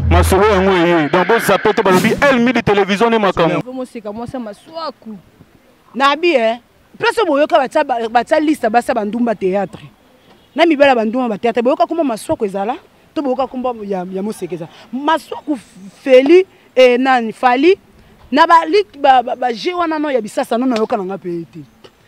masolo yango eye donc bozape te balobi el midi télévision nde makambo moseka mwasa maswaku nabi e eh? place oyo boyoka batya liste basa bandumba théâtre na mibala bandumba bathéâtre boyoka komba maswaku ezala to boyoka komba ya moseka ezala maswaku feli eh, nani fali na bage wana no ya bisasa no nayoka na ngai mpe te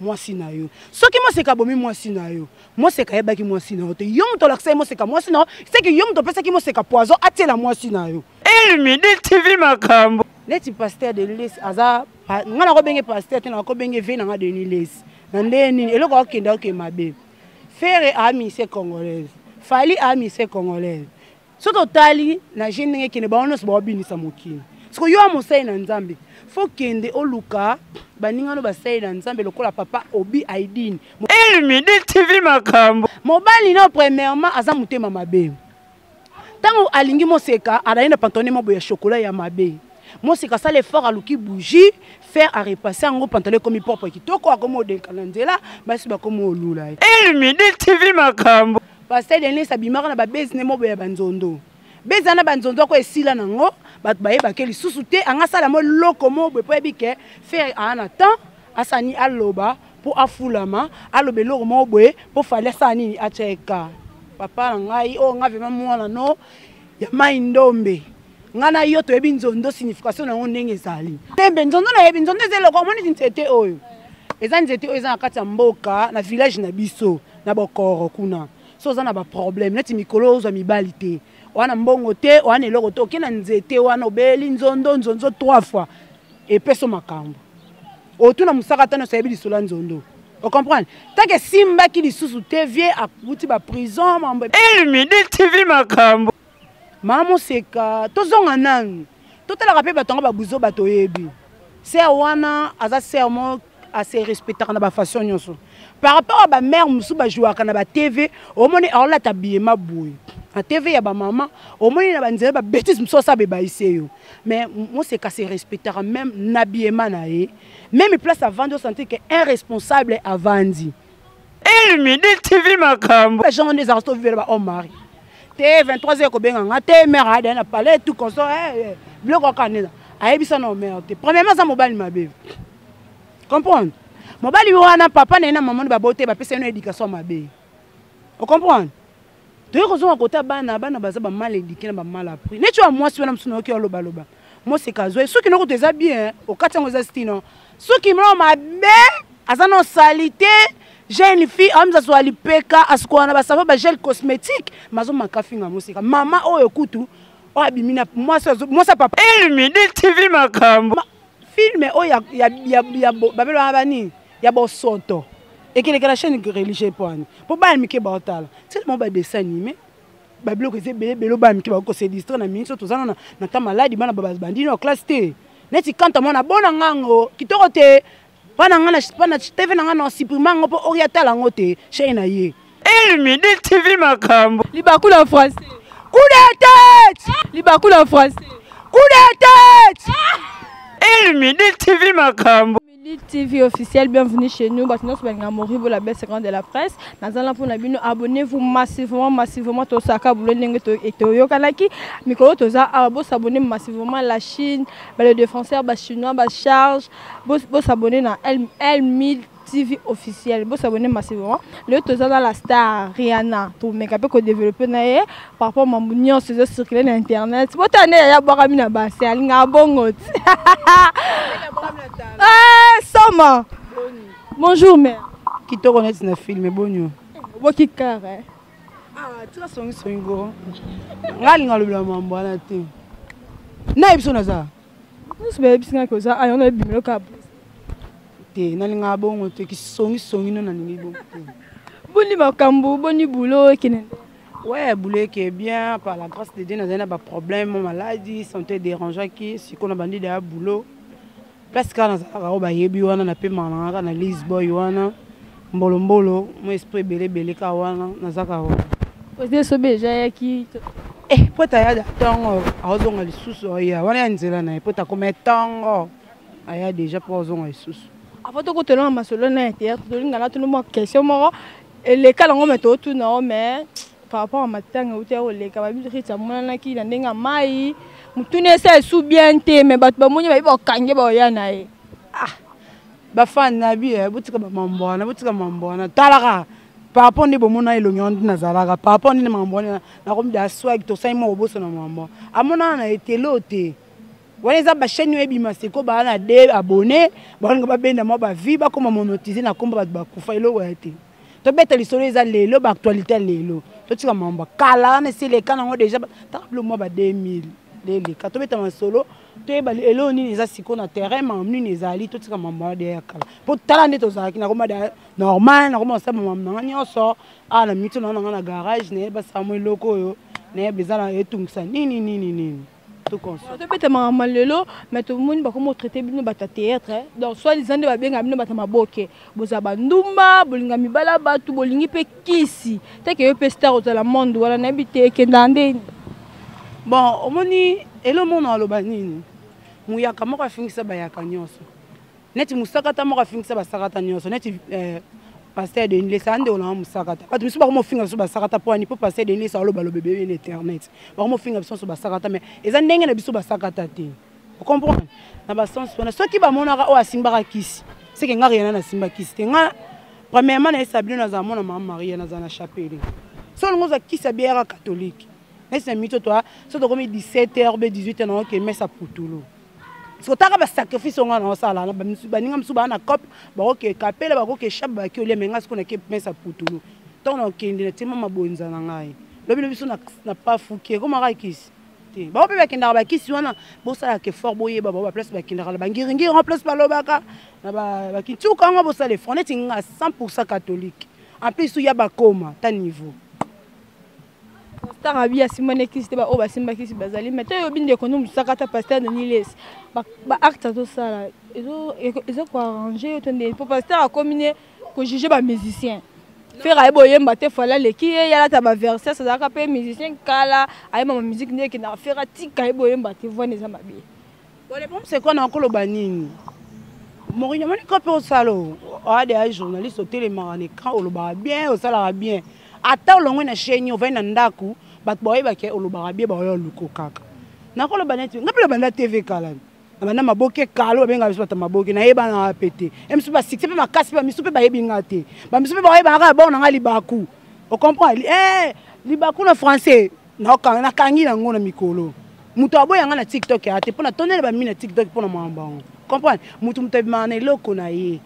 mwasi na yo soki moseka abomi mwasi na yo moseka ayebaki mwasi na yo te yo moto olakisaki moseka mwasi na yo seke yo moto opesaki moseka poison atiela mwasi na yo elmidi eh, tv makambo neti pasteur de les aza ngai nakobenge pasteur te nakobenge ve na ngai denis les na ndenge nini eloko akokende akokende mabe fere amise congolaise fali amise congolaise soki otali na je ndenge ekende bango nyonso baobinisa mokili soko yo ya mosali na nzambe fo kende oluka baninga no basali na nzambe lokola papa obi aidine elmidi tv makambo mobali nao premièrement aza motema mabe ntango alingi moseka alali na pantone mabo ya shokola ya mabe mosika asala effort aluki bougie faire arepasse yango pantalo ekomi propre kitoko akomi odenka na nzela basi bakomi olula ye elmidi tv makambo Pasteur Denis abimaka na ba base ne mobo ya banzondo. Beza na banzondo ako esila nango bato bayebake lisusu te anga sala mo loko mo boye po yebi ke faire a na temps asani aloba po afulama aloba eloko mo boye po fali asala nini acheka papa na ngai o oh, nga vraiment mwana no ya mai ndombe ngai na yo toyebi nzondo signification na yango ndenge ezali tembe nzondo nayebi nzondo eza eloko omoni ti nzete oyo eza nzete oyo eza na kati ya mboka na village na biso na bokoro kuna so oza na baproblème neti mikolo oyo ozwa mibali te oa na mbongo te oa na eloko te oke na nzete wana obeli nzondo nzonzo trois fois epeso makambo otuna mosaka ata nyonso ayebi lisolo ya nzondo ocomprendre tanke esimbaki lisusu te vie akuti baprison mambo elmidi tv makambo maa moseka tozonga nanu totalaka mpe bato yango babuzo bato oyebi ser wana aza ser mo ase respectaka na bafaçon nyonso par rapport ya bamare mosusu bajouaka na batv omoni aolata biyema boye na tv ya bamama omoni na banzela babetise mosusu asala bebaise yo mais moseka se respectaka même na biema na ye meme place avandi osentir ke un responsable avandi elmidi tv makambo jean wana ezalaka soki ovivela bahomme mari te 23 heures kobenga nga te mare ayadai na palais tout conso eh, eh, biloko akanela ayebisa na omere te premièrement aza mobali mabe comprendre mobali wana papa na ye na mama ni babote bapesa ye na éducation mabe ocomprendre toye kozonga kota bana bana baza bamal edike na bamal apris neti oya mwasi wana mosusu nayoki alobaloba moseka azwa soki noko to eza bien okati yango eza stino soki mlao mabe aza na salite jeune fille amza azwa lipeka asikola na basavo bagel cosmétique mazo makafinga moseka mama oyo kutu oyo abimi na mwasi ya papa elmidi tv makambo filme oyo babelwana banini ya bosoto ekeleka na chaîne religieux mpo ani mpo bana mike baotala nsele moko badessin anime babiloko eza ebele ebele bana mike bakoki kose distre na minso toza nona na ta maladi bana babandi na classe te neti kanta mwana bona ngango kitoko te bana nga na tv na nga na supprime yango mpo oyo atala yango te chaine na ye elmidi eh, tv makambo libaku na français coup de tête libaku na français coup de tête elmidi eh, tv makambo Lutte TV officiel, bienvenue chez nous. Bato nyonso balinga Moribo la belle seconde de la presse. Naza na pona bino abonnez-vous massivement massivement to saka boulot ndenge to etoyokanaki. Mikolo toza awa bo s'abonner massivement la Chine, ba les défenseurs ba chinois ba charge. Bo bo s'abonner na L L1000 TV officiel. Bo s'abonner massivement. Le toza na la star Rihanna. To meka pe ko développer na ye. par rapport mambo nyonso ezo circule na internet botala nde yaya abwakami na base alingaka bongo ti eh, soma bonjour mare kitoko neti na filme bonio oboki kare eh. ah, tika songisongi go ngai alinga alobela mambo wana te nayebi biso naza nyonso bayebisi ngai koza ayo na ebimelo kabo te nalingaka bongo te kisongisongi no nalingi bongo te boni makambo boni bulo ekende Ouais, boule qui est bien, par la grâce de Dieu, nous avons des problèmes, mon maladie, santé dérangeant qui, si qu'on a bandit de boulot. Place quand nous avons ba yebi wana na pe mananga na Liz boy wana. Mbolo mbolo, mon esprit belé belé ka wana, na zaka wana. Ose so beja ya ki. Eh, pota ya tongo, azonga lisusu ya wana ya nzela na pota comme tongo. Aya déjà po azonga lisusu. Avant de ko tolonga masolo na théâtre, tolinga na tunu mo question moko eleka nango me totuna yo me par rapport ya matanga euta ya koleka babiriti amonanaki na ndenge ya mai motuna esa esu bien te me bato bamoni bayebi bakange baoya na ye ah. bafani na bi eh, botika bamambo wana botika mambo wana talaka par rapport nde bomona elongi wana nde nazalaka par rapport nde mambo wana nakomi da swag tosali moko bosona mambo amonana na etelo te wana eza bachaine oyo ebima seko baa na de abonne baolinga babenda mwa bavie bakoma monotise na nkombo bato bakufa eloko ya te tobeta lisolo eza lelo baactualité ya lelo totika mambo kala wana esi eleka nango deja taka bilo mwa ba 2000 leleka tobeta masolo toyeba eloo nini eza sikoyo na terrain mambo nini ezali totika mambo wana deya ya kala mpo tala nde tozalaki nakoma da normal nakoma osala mambo nanga nyonso awa na mito nanga nanga na garage nayeba samwa eloko oyo nayeba eza na etungisa nini nini nini tobetamaka ma lelo mais tomoni bakoma otraite bino bato ya théâtre eh. donc soit disant nde babengaka bino bato ya maboke bozala bandumba bolinga mibala ya bato bolingi mpe kisi teke yo mpe star ozala monde wana nayebi te ekendaka nde bon omoni elo mona aloba nini muyaka moko afingisa bayaka nyonso neti mosakata moko afingisa basakata nyonso neti eh, pasteur de nilesa ande olanga mosakata bato misusu bakoma ofinga biso basakata mpo ani mpo pasteur de nilesa alobaloba ebele na internet bakoma ofinga biso nyonso basakata mai eza ndenge na biso basakata te ocomprendre na basense wana soki bamonaka oyo asimbaka kisi seke nga riana nasimba kisi te nga premièrement nayesa bino nazala mwana mama maria nazala na chapele so olingo ozwa kisi ya biara catholique nayesi na mito toa so tokomi 17 heure be 18 heure naoke mesa putulu sotaka basacrifice onga na osala na baninga mosusu baa na cope bakoke kapela bakoke shab baki olia menga siko nake mesa putulu ntango nakende na tima mabonza na ngai lobi lobi biso na pafuki ekomaka kisi te bango mpe bakendaka bakisi wana bosalaka effort boyeba bango baplace bakendaka na bangiringiri yango place balobaka na bakintuka yango bosala effort neti nga 100 pourcent catholique en plus ya bakoma ta niveau Pasteur Abi asimba ne kisi te ba oyo basimba kisi bazali mais to yobi ndeko no musaka ta pasteur Denis Les ba, ba acte azo sala ezo ezo ko arranger yo to nde po pasteur akomi ne ko juger ba musiciens Ferre ayebi oyemba te fala leki ye yalata ba verses azalaka pe musicien kala ayemba ba musique nde ekendaka Ferre atika ayebi oyemba te voix eza mabe Boleponse kwana okoloba nini? Morinho omoni kope osala oade ya journaliste otelemaka na écran olobaka bien osalaka bien ata olongwe na chaine ovai na ndako bato baoyebake olobaka bien baoyo oluko kaka nakoloba neti ngai mpe nabanda tv kala nabanda maboke kalo babengaka biso bato ya maboke nayebana wa mpe te e misu basikse mpe makasi mpe bamisu mpe bayebi ngai te bamisu mpe baoyebaka kaka bao na ngai libaku okomprendre eh, libaku na français nakangi na yango na mikolo moto aboya ngai na tiktok ya te mpo na tondele bamimi na tiktok mpo na makambo yango comprendre moto moto abimaka na eloko na ye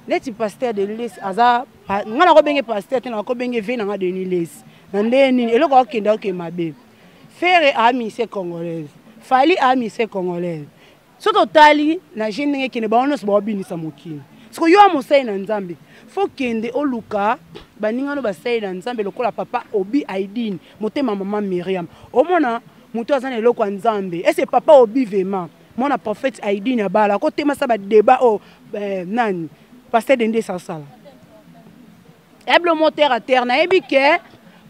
neti paster de les aza ngai nakobenge paster te nakobenge ve na ngai deni les na ndenge nini eloko akokende akoke mabe fere aa mise congolaise fali aa mise congolaise soki otali na je ndenge ekende bango nyonso baobinisa mokili siko yo ya mosali na nzambe fo kende oluka baninga no basali na nzambe lokola papa obi aidine motema mama miriam omona moto aza na eloko ya nzambe ese papa obi vema mwana prophète aidine abala akotemasa badeba oyo oh, eh, nani pasteur dende esasala eblo mo terre à terre nayebi ke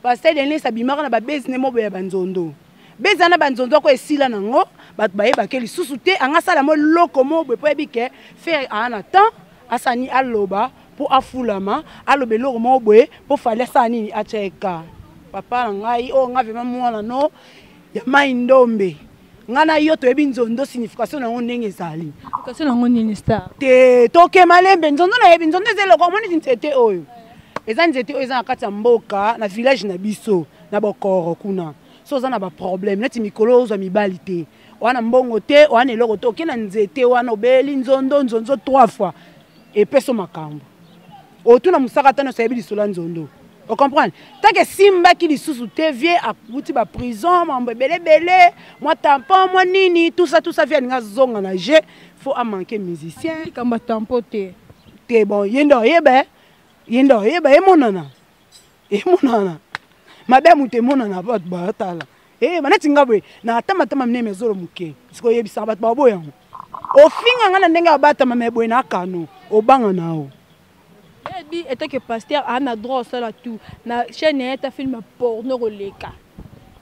pasteur denis abimaka na babezi nde moboya banzondo beza na banzondo ako esila nango bato bayebake lisusu te anga asala mo eloko mo boye mpo yebi ke fere aa na temps asani aloba mpo afulama aloba eloko moko boye mpo fali asala nini atyeka papa na ngai oyo oh, ngai vraimen mwana no ya mai ndombe ngai na yo toyebi nzondo signification na yango ndenge ezali signification na yango nini star te toke malembe nzondo nayebi nzondo eza eloko omoni nzete oyo eza nzete oyo eza na kati ya mboka na village na biso na bokoro kuna so oza na baproblème neti mikolo ozwa mibali te wana mbongo te wana eloko te oke na nzete wana obeli nzondo nzonzo trois fois epeso makambo otuna mosaka ata nyonso ayebi lisolo ya nzondo ocomprendre tanke esimbaki lisusu te vie akuti baprison mambo ebelebele mwa tampon mwa nini tusa tusa vie alingi azonga na jeu faut amanke musicien likambo ya tampon te te bon ye nde oyeba eh? ye nde oyeba emonana emonana mabe ya moto emonana bato batala Eh, maneti nga boye na atama tama mine mezolo moke siko oyebisaka bato babo yango ofinga nga na ndenge abatama me boye na kano obanga nao ebi eh, etake paster ana droit osala tout na chaîne ya ta film porno koleka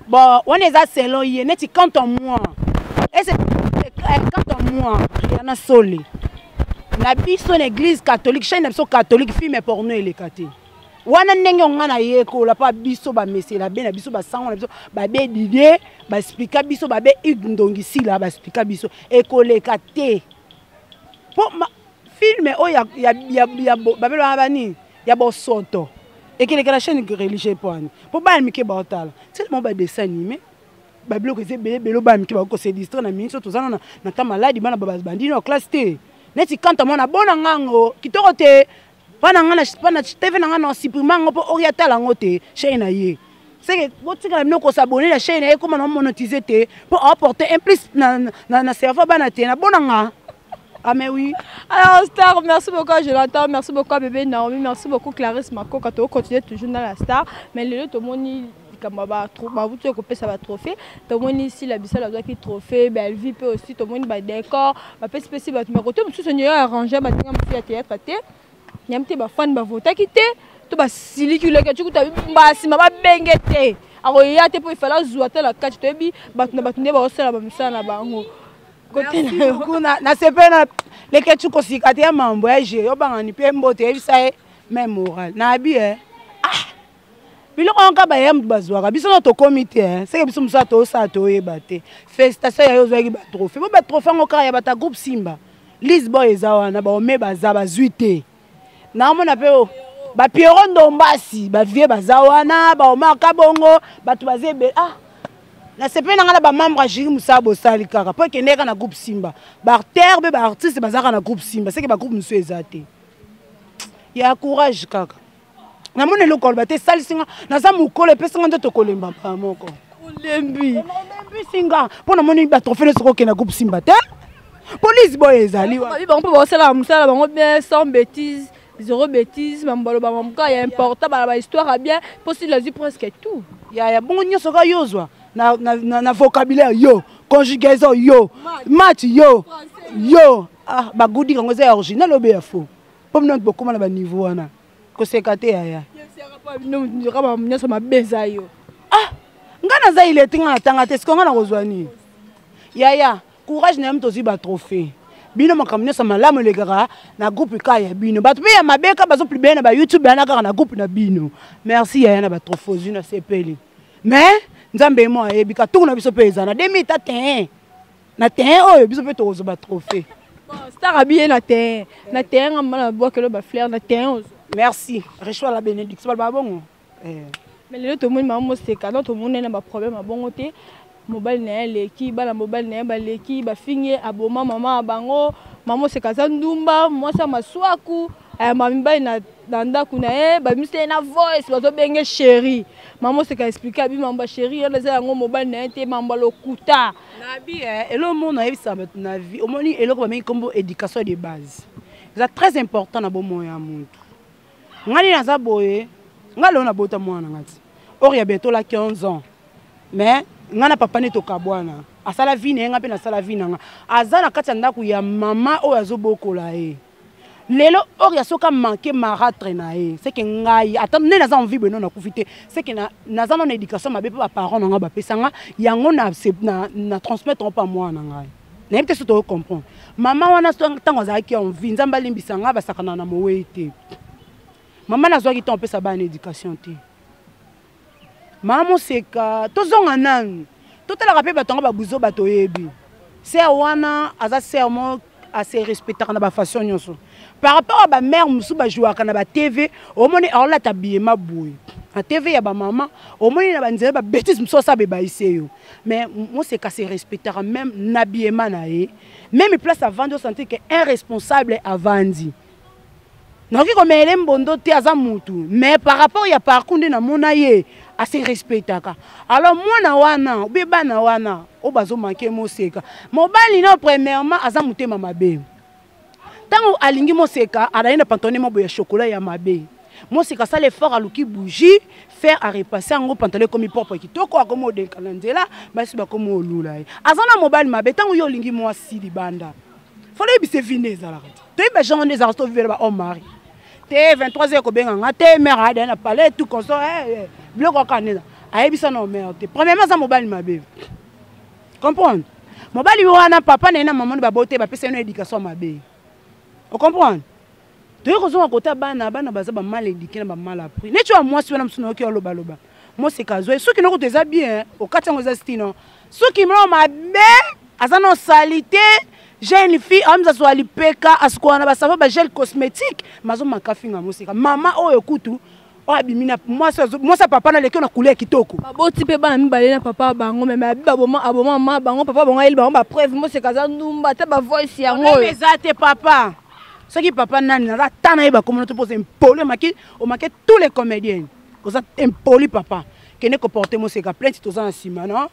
bon wana eza selon ye neti quant en moi ese eh, quant en moi riana sole na biso na église catholique chaîne na biso catholique film porno eleka te wana ndenge yo ngai nayekola mpa biso bamesela be na biso basango na biso babe didie basplika biso babe hugue ndongisila basplika biso ekoleka te mpo filme oyo babelaka banini ya bosoto ekeleka na chaîne religieux mpo wani mpo bana mike baotala selemo badessin anime babiloko eza ebele ebele bana mike bakoki kose distre na mingi so toza nano na ta maladi bana babandino ya classe te neti kanta mwana bona ngango kitoko te pa na ngai pa na tv na ngai na supprime yango mpo oyo atala yango te chaine na ye seke botikala bino kosabone na chaine na ye ekoma na monotise te mpo aporte un plus na, na, na, na cerveau bana te na bona ngai Ah mais oui. Alors Star, merci beaucoup à Jonathan, merci beaucoup à Bébé Naomi, merci beaucoup Clarisse Makoka. Tu continues toujours dans la Star, mais le tomoni likambo ya ba tro- ba- bauti kopesa batrophée tomoni sila bisala azwaki trophée belvi mpe osi tomoni badecor bapesi pesi bato me kote mosusu nio ya arrange baninga mosusu ya théâtre te nyam te bafani bavotaki te to basiliki leke cukuta mbasima babenge te akoya te mpo efale azwa te na kati toyebi bato na bato nde baosala bamisala na bango kote na yo kuna nasepeli na leketsu kosika te ya mambo ya je obangani mpe mbote yebisa ye meme moral na abi e biloko yango kaka baya moto bazwaka biso no tokomi te eh. seke biso mosala toosala toyeba te félicitation yayo ozwaki batrohe po batrohe yango kaka ya bata groupe simba lisboy eza wana baome baza bazwi te naomona mpe oh, bapiero ndombasi bavie baza wana baomar kabongo bato baza ebele ah nasepeli na ngai na bamembre ya juri mosala bosali kaka mpo ekende kaka na groupe simba baartere mpe baartiste bazalaka na groupe simba seke bagroupe mosusu eza te ya courage kaka namoni eloko aloba te esalisi nga naza mokolo epesi nga nzoto kolemba mbala moko olembi olembisi nga mpo namoni batrofe nyonso kokenda groupe simba te polise boye ezali bango mpe baosalaka mosala bango bien sans bétise zero bétise mambo baloba mambo kaka ya important bala bahistoire ya bien mpo sili azwi presque tout yaya bongo nyonso kaka yo ozwa na, na, na, na vocabulaire yo conjugaison yo match yo yo ah, bagudi yango eza ya original obe ya faux po bino nati bokoma na baniveau wana koseka te yaya nyonso mabe eza yo ah ngai naza ilete ngai natanga te siko ngai nakozwa nini yaya courage na yo mtozwi batrophée bino makambo nyonso malamu elekaka na groupe kaka ya bino bato mpe ya mabe kaka bazoplibele na bayoutube yana kaka na groupe na bino merci yaya na batrophée ozwi nasepeli mais nzambe ye mo ayebi katuku na biso mpe eza na demi ta te na terrain oyo biso mpe tokozwa ba trophée star abiye na terrain na terrain nga mbala nabwakelo ba fleur na terrain ozo merci reçoit la bénédiction baloba bongo eh. mais lelo tomoni mama moseka no tomoni ye na baproblème ya bongo te mobali na ye aleki bana mobali na ye baleki bafingi ye aboma mama ya bango mama moseka aza ndumba mwasi ya maswaku Eh, ma mibali na, na ndako na ye babimisi ye na voice bazobenge sheri mama oseka explike abi mambo ya sheri yana eza yango mobali na ye te mambo ya lokuta nabi eh, eloko moko nayebisa bato na vie omoni eloko babengi nkombo éducation de base eza très important na bomoi ya motu ngai naza boye ngai lelo nabota mwana ngai ti or ya bientôt la 15 ans mais ngai na papa nde tokabwana asala vie na ye ngai mpe nasala vie na ngai aza na kati ya ndako ya mama oyo azobokola ye lelo oria soki amanke maratre na ye seke ngai ata nde naza envie boye no nakufi te seke naza nano éducation mabe mpe baparent na ngai bapesa ngai yango na, na, na transmettre mpe mwana na ngai nayebi te so toyo comprendre mama wana ntango azalaki envie nzambe alimbisa ngai basakana na mowei te mama nazwaki ntango opesa bana éducation te Maman Moseka, tozonga nanu. Totalaka pe bato yango babuzo bato oyebi. Sœur wana aza sœur mo à se respectaka na ba façon nyonso. Par rapport à ba mère musu ba jouaka na ba TV, omoni aolata biyema boye. Na TV ya ba maman, omoni na ba nzela ba bêtises musu osa bebaise yo. Mais Moseka se respectaka même na biyema na ye. Même place avandi osentir que un responsable avandi. nakoki komeele mbondo te aza mutu mais par rapport ya parcours nde namona ye ase respectaka alors mwana wana obe bana wana oyo bazomanke moseka mobali nao premièrement aza motema mabe ntango alingi moseka alali na pantone mabo ya chokola ya mabe moseka asala effort aluki bougie fer arepasse yango pantalo ekomi propre kitoko akomi odenka na nzela basi bakomi olula ye aza na mobali mabe ntango yo olingi mwasi libanda fana oyebisa evi nde ezalaka te toyebi ba genre nde ezalaka to vivela ba homme mari te 23 heures kobenga nga te mère ayada na palais tout comme ça eh, eh, biloko kaka nde ayebisa na mère te premièrement aza mobali mabe comprendre mobali wana papa na ye na mama nde babote bapesa ye na éducation mabe ocomprendre toyei kozonga kota bana bana baza bamal éduqué na bamal appris neti oya mwasi wana mosusu nayoki olobaloba moseka azwa ye soki noko eza bien okati yango eza stino soki mlo mabe aza na salite jeune fille amza zwa lipeka asikola na basavo bagel cosmétique mazo maka finga moseka mama oyo kutu oyo abimi na mwasi ya papa na leki na kule ya kitoko baboti mpe bana mibale na papa bango meme abi baboma aboma ma bango papa bango ayeli bango bapreuve moseka aza ndumba ata bavoice yango oyo eza te papa soki papa nani naza ata nayeba komona to mpoza impoli omaki omake tous les comédiens oza impoli papa kende koporte moseka plainte toza na nsima no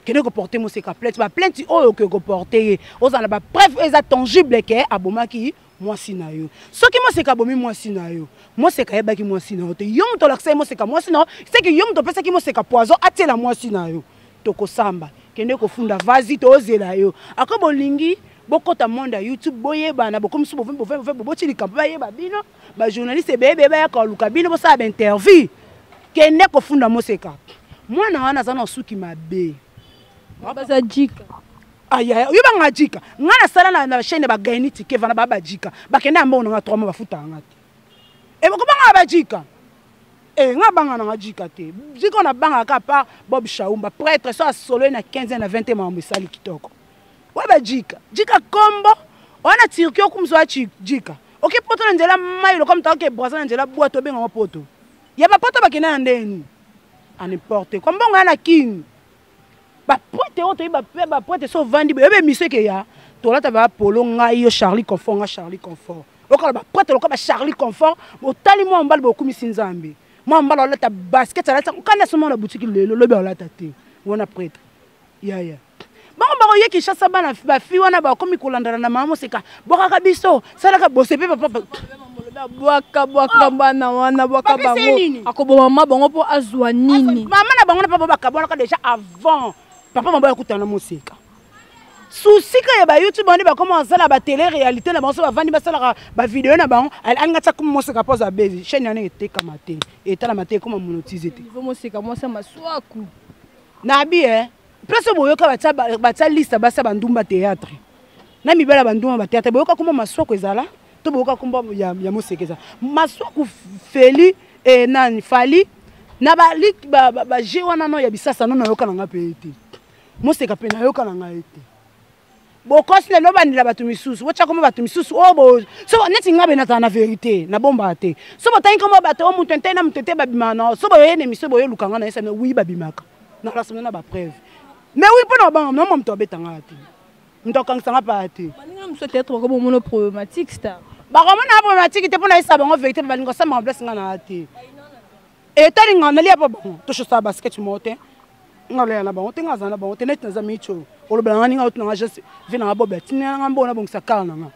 kende koporte moseka plainte baplainte oyo okoki koporte ye ozala na bapreuve oyo eza tangible ke abomaki mwasi na yo soki moseka abomi mwasi na yo moseka ayebaki mwasi na yo te yo moto olakisaki moseka mwasi na yo seke yo moto opesaki moseka poison atiela mwasi na yo tokosamba kende kofunda vazi tozela yo ako bolingi bokɔta monde ya youtube boyebana bokomisi bovembovemovemoboboci likambo bayeba bino ba journaliste ebebe bayaka koluka bino bosala bainterview kende kofunda moseka mwana wana aza na suki mabe baza jika ayaya yo banga jika ngai nasala na, na chaine ya bagaini tike vana baa bajika bakende ya mbongo na ngai trois mois bafutaka ngai te ebokobanga eh, bajika e eh, ngai banga na ngai jika te jika na bangaka par bob shaumba prêtre so asoloi na 15 na 20 makambo esali kitoko oyo bajika jika kombo wana turki okumzwa jika oke poto na nzela mai lokola moto aoke braza na nzela bwato obenga yango poto ya bapoto bakende na ndenge nini aneporte kwa mbongo ya na kini baprete oyo toyebi baprete so ovandi boyebi emisio eke ya tolata bapolo ngai yo charlie confort ngai charlie confort okala baprete lokola bacharlie confort botali mwa mobali bokumisi nzambe mwa mobali olata basket alati okanda somona butiki lelo lobi olata te wana prete yaya bango bakoye kinshasa bana bafi wana bakomi kolandana na mama moseka bwakaka biso salaka bose mpe papa bwaka bwaka bana wana bwaka bango akoboma mama bango mpo azwa nini mama na bango na papa bakabwanaka déjà avant papa mama yakutana na moseka susika ya bayoutube wana bakoma basala batele réalité na bango so bavandi basalaka bavideo na bango alingi atya kuma moseka mpo azwa bezi chaine wana etekama te etalama te ekoma monotise te moseka mwasi ya maswaku Nabi eh place boyoka batia batia liste basa bandumba théâtre. Na mibala bandumba ba théâtre boyoka kombo masoko ezala to boyoka kombo ya, ya moseke ezala. Masoko feli eh, nani fali na ba ba, ba, ba jeu wana no ya bisasa no nayoka na nga pe ete. Moseka pe nayoka na nga ete. bokosi lelo obandela bato misusu botya nkombo bato misusu oyo oh, so neti ngai be nazala na verité nabombaka te so botangi nkombo bato oyo oh, moto ntei na moto te babimaka na so boye na emisio boye olukanga na esana wi babimaka na rasona na bapreuve mais wi mpo na babanga mama moto abeta ngai te moto akangisa ngai paa te bakomona problématique te mpo na yesa bango verité mpe balingi osambaka place ngai na te etali ngai nalia mpo bango toshosa baskete moko te nga loya na bango te nga azala na bango te neti naza micho olobela nga ninga otina nga geste vie na nga bobela tinela nga mbongo nabongisa kala na nga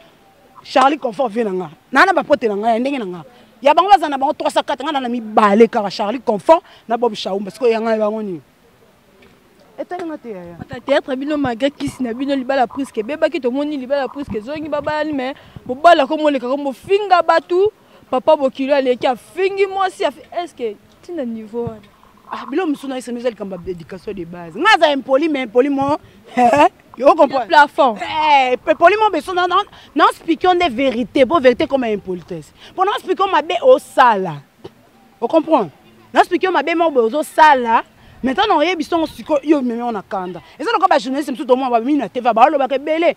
charlie confort vie na nga naa na bapote na nga ya ndenge na nga ya bango bazala na bango 304 nga na na mibale kaka charlie confort na bob shaumba sikoyo yanga bango nini etalanga te yaya ata théâtre bino malgré kisi na bino libala priske ebebaki tomoni libala priske ezongi babalani mais bobala komoleka ko bofinga bato papa bokilo aleki afingi mwasi eske ntina niveau wana ah, bilo mosusu na esemi eza likambo ya éducation de base ngai aza impoli mais impoli mo plafond eh, impoli mo beso naospikio nde vérité po vérité comme impolitesse mpo naospikio mabe osala ocomprendre naospikio mabe moko boye ozosala maintenant na oyebisi yango sikoyo yo omemi yango na kanda eza lokola bajournaliste mosusu tomona bamimi na tv balobaka ebele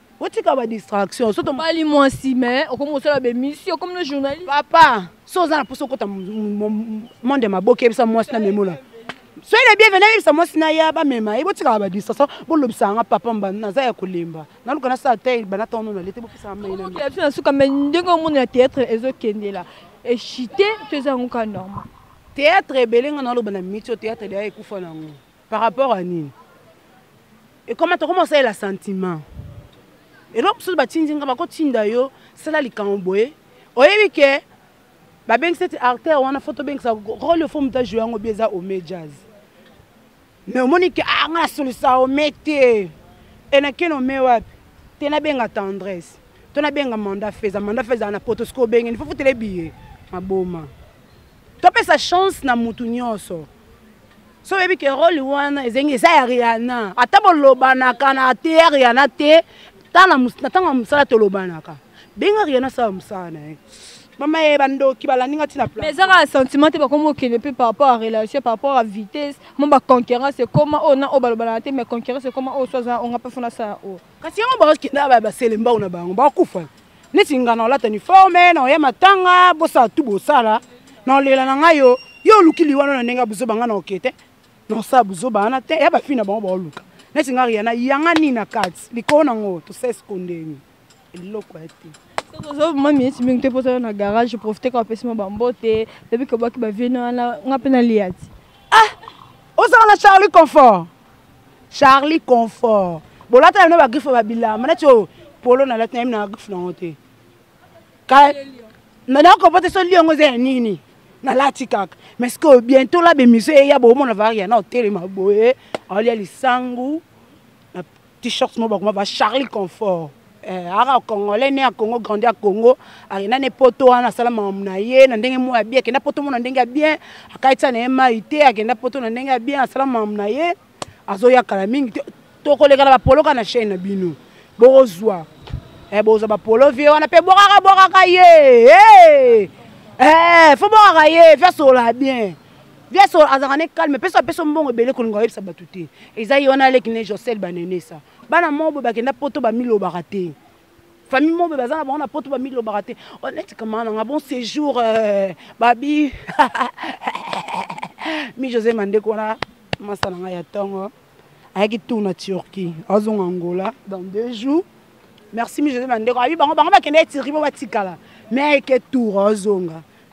botika ba distraction soto bali mwasi mais okomi kosala bemission comme le journaliste papa so oza na mposa okota monde ya maboke yebisa mwasi na memola soki na bienvenu ayebisa mwasi na ya bamema ye botikaka ba distraction bolobisaka nga papa mbanda naza ya kolemba naluka nasala te bana ntango nono alete bopesaka mainabiso na suka mai ndenge omona ya théâtre ezokendela echite to eza yango ka normal théâtre ebele nga naloba na miti o théâtre deya ekufa na yango par rapport à nini ekoma tokoma osalela sentiment eloko mosusu batindi nga bakotinda yo sala likambo boye oyebi ke babengisa ete artère wana fo tobengisa role fo moto ajoue yango bi eza ome jazz mais omoni ke ah, nga nasolisa ome te enakeni ome wapi te nabenga tendresse to nabenga manda feza manda feza na poto soki obengeni fo futele biye maboma topesa chance na mutu nyonso so oyebi ke role wana ezengi eza ya riana ata bolobanaka na te ya riana te na ntango ya mosala tolobanaka benga riana asala mosala na ye mama ye bandoki balandi nga ntina pla eza kaka sentiment te bakomi okende mpe par rapport à relation par rapport à vitesse mo baconcurrence ekoma oyo na oyo balobanaka te mais concurrence ekoma oyo so aza onga mpe fona asala oyo kasi yango bakokenda baya baselembao na bango bakufa neti nga na olata uniforme na oya matanga bosala tu bosala na olela na ngai yo yo oluki liwana na ndenge ya buzoba ngai na oke te na osala buzoba wana te ya bafii na bango baoluka neti nga riana yanga nini na kati likolo na ngo tosese kondeni eloko ya te ozobima miniti mingi te mpo ozala na garage profite kaka opesi mwa bambote lobi kobaki baviene wana nga mpe naliya ti ah ozala na charlie confort charlie confort bolata na bino bagriffe babilamba neti oyo polo nalati nayebi na griffe nango te nakopote so li yango eza ya nini nalati kaka mais sikoyo bientôt la bemission eya bomona varia na otelema boye aolia lisangu t-shirt moko bakoma ba charlie confort eh, aka congolais ne ya congo grandi ya congo akenda ne poto wana asala mamu na ye na ndenge moko ya bien akenda poto mona ndenge ya bien akaitisa na ye mai te akenda poto na ndenge ya bien asala mamu na ye azoya kala mingi te tokoleka na bapoloka na chaine na bino bokozwa eh, bokozwa bapolo vie wana mpe bwakaka bwakaka ye hey! eh, fo bwakaka ye fyasola bien Viaso azalaka ne calme peso apeso mbongo ebele kolinga oyebisa bato te eza ye wana aleki ne josel banenesa bana moko boye bakenda poto bamilobaka te famille moko boye baza na bango na poto bamilobaka te oh, neti kama na nga bon séjour euh, babi mi josé mandeko wana masa na ngai ya ntongo ayaki tour na turquie azonga angola dans deux jours merci mi josé mandeko abi bango bango bakenda etiri po batikala me ayeke tour azonga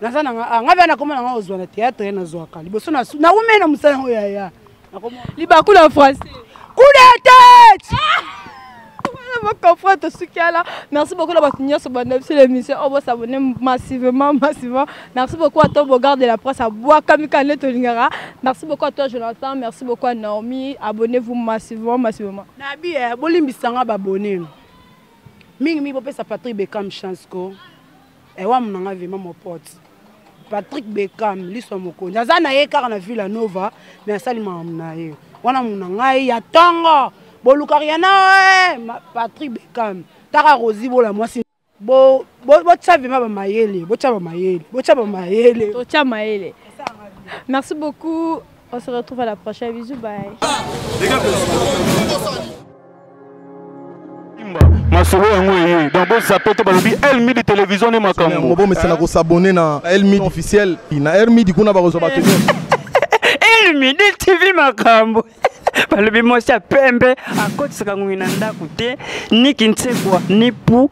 naza na nga ah, nga bana komona nga ozwa na théâtre nazwaka liboso na na wumeli na mosala yango yaya libaku na français kudete baconfront tosuki ala merci beaucoup na bato nyonso banda biso l'émission oyo bosabone massivement massivement merci beaucoup à toi bogard de la presse abwakami ka nde tolingaka merci beaucoup à toi jonathan merci beaucoup à naomi abonnez vous massivement massivement nabi eh, bolimbisanga babone mingi mingi bopesa patrick becam chance ko ewa muna nga vima mon pote patrick beckham liso ya mokonzi aza na ye kaka na villa nova me asali makambo na ye wana muna ngai ya ntongo boluka riana eh, patrick beckham taka rosi bola mwasi botya bo, bo, vima bamayele botya bamayele botya bamayele totya mayele merci beaucoup On se retrouve à la prochaine. Bisous, bye. masolo yango eye donc bozape te balobi elmidi télévision nde makambo bomesana kosabone na elmidi officiel na elmidi kuna bakozwa bato elmidi tv makambo balobi mwasi ya pembe akotisaka ngongi na ndako te ni kinsekwa ni pu